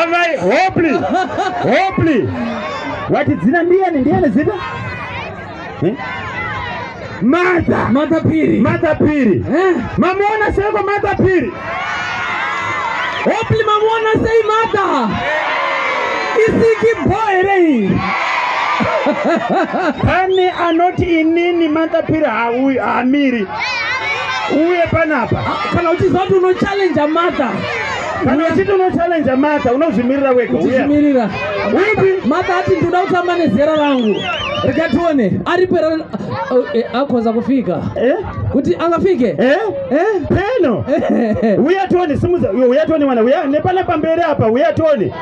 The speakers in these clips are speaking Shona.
amai hoply hoply wati dzina ndiyani ndiyani zita eh? mata mata piri mata piri eh? mamuona seiko mata piri hoply mamuona sei mata isiki bho here iyi pane anoti inini mata piri hauyi hamiri uye panapa ah, kana uchiziva kuti unochallenja mata kana uchiti unochallenja mata unozvimirira wega uchimirira upi mata ati ndinoda kutamba nezera rangu rikatione aripo oh, eh, akonza kufika eh? kuti angafike eh? peno uya toni simuza uya toni mwana uya nepana pamberi apa uya toni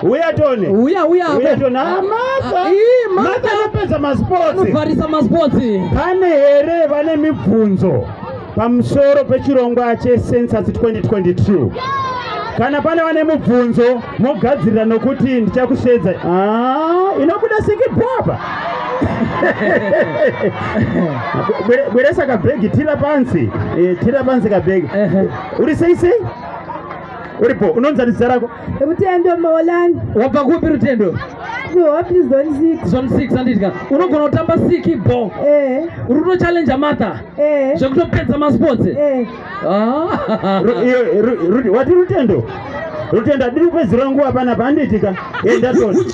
Uya tone. Uya uya. Uya tone. Ah, mata. Ah, mata anopedza masports. Anovharisa masports. Pane here vane mibvunzo pamusoro pechirongwa checensus 2022? Kana pane vane mubvunzo mogadzirira nokuti ndichakusheedza. Ah, inobuda sikibhaba. Bweresa kabhegi tira pansi. Eh, tira pansi kabhegi. Uri sei sei? Uripo unonzanisa rako. Rutendo Maulani. Wabva kupi Rutendo? Kuhopi zone 6. Zone 6 handidya. Unogona kutamba siki bo. Eh. Uri kuto challenge Martha. Eh. Zvekutopedza ma sports. Eh. Ah. Wati Rutendo? Rutendo adiri kupedzera nguva panapa handiitika. Enda toni.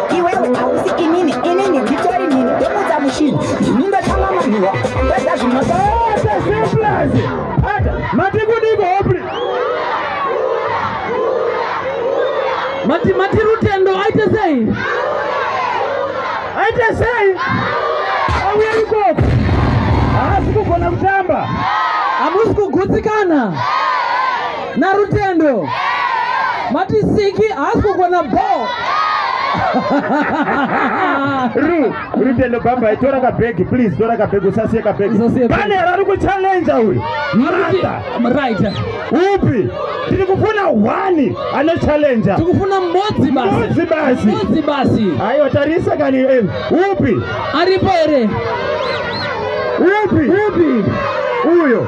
iwewe hausi inini inini nditori nini ndokudza mushini ndini ndatanga manhiwa peza zvinoaaaaazi ata matikudiko hopli mati mati rutendo aite sei aite sei auya ikoko haasi kugona kutamba hamusi kugutsikana yeah. narutendo mati siki haasi kugona ball ru rutendo baba tora kabhegi please tora kabhegi usasiye kabhegi pane rari kuchallenja uyu right upi tiri kufuna one anochallenja tikufuna mbodzi basi basi mbodzi basi aiwa tarisa kani eh, upi aripo here upi upi uyo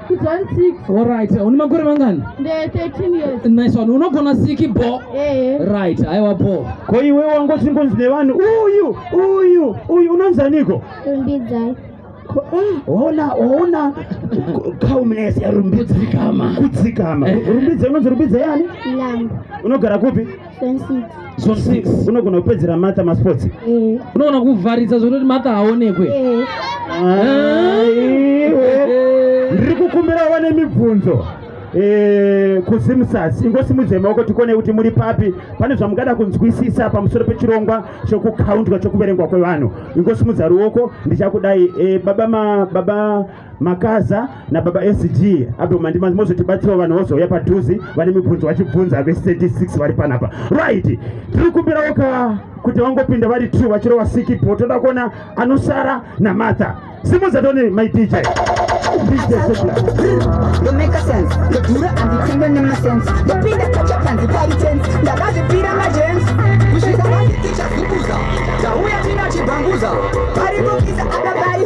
John 6. All right. Une makore mangani? Nde 13 years. Nice one. Unogona siki bo? Eh. Right. Aiwa bo. Ko iwe wangoti ngonzi nevanhu uyu uyu uyu unonzi aniko? Rumbidzai. Ona ona calmness ya rumbidzikama. Kudzikama. Eh. Rumbidza unonzi rumbidza yani? Lambo. Unogara kupi? zone six unogona kupedzera matha masports eh. unogona kuvharidza zvekutoti matha haonekwe eh. aiwe eh. ndiri kukumbira wane mibvunzo kuzimusas ingosimudzai maoko tikone kuti muri papi pane zvamungada kunzwisisa pamusoro pechirongwa chokukauntwa chokuverengwa kwevanhu ingosimudzai ruoko ndichakudai baba makaza nababa sg apo mandimanzi mozotibatsirawo vanhu vozouya padhuzi vane mibvunzo vachibvunza ve36 vari panapa right tiri kumbirawo ka kuti vangopinda vari true vachirova sikipo toda kuona anosara namartha simuza tone my dj Kusvika vaziticha zukuza, tauya tina chibhanguza, pari kukiza akabari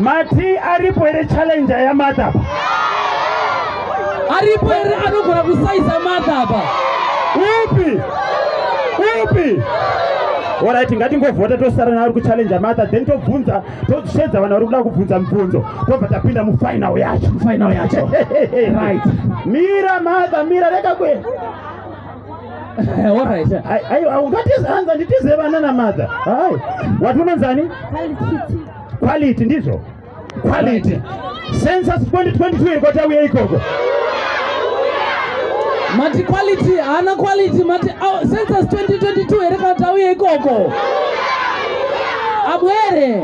mati aripo here challenger yamadha apa aripo here anogona kusaisa madha apa upi upi orit ngatingovhota tosara naari kuchallenja matha then tobvunza toshedza vanhu vari kuda kubvunza mibvunzo tobva tapinda mufinal yacho final yacho right mira matha mira reka kwe ungatihanza nditize vana namadha hai wati unonzani quality ndizvo quality census 2022 iko tauye ikoko mati quality haana quality mati census 2022 here kana tauye ikoko abwere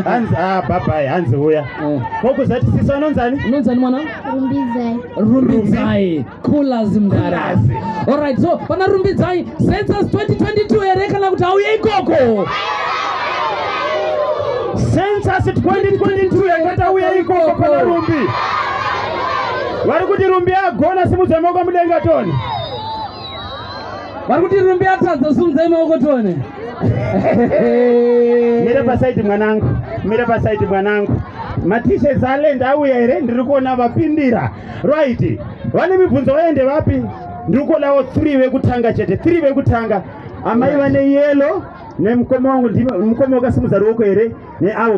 hanzi ah, babai hanzi uya eh. kokuzati sisa unonzani unonzani mwana Rumbidzai. Rumbidzai. Coolers mdara. All right, so pana Rumbidzai census 2022 here kana kuti auye ikoko? Census 2022 yakata uye ikoko pana Rumbi. Vari kuti Rumbi agona simudzai maoko mudenga toni. vari kuti rumbi yatadza sunzai maoko tione mira pasaidi mwanangu mira pasaidi mwanangu matishe zalend auya here ndiri kuona vapindira right vane mibvunzo vaende vapi ndiri kuonawo three vekutanga chete three vekutanga amai vane yelo nemukoma wangu mukoma wakasimudza ruoko here neavo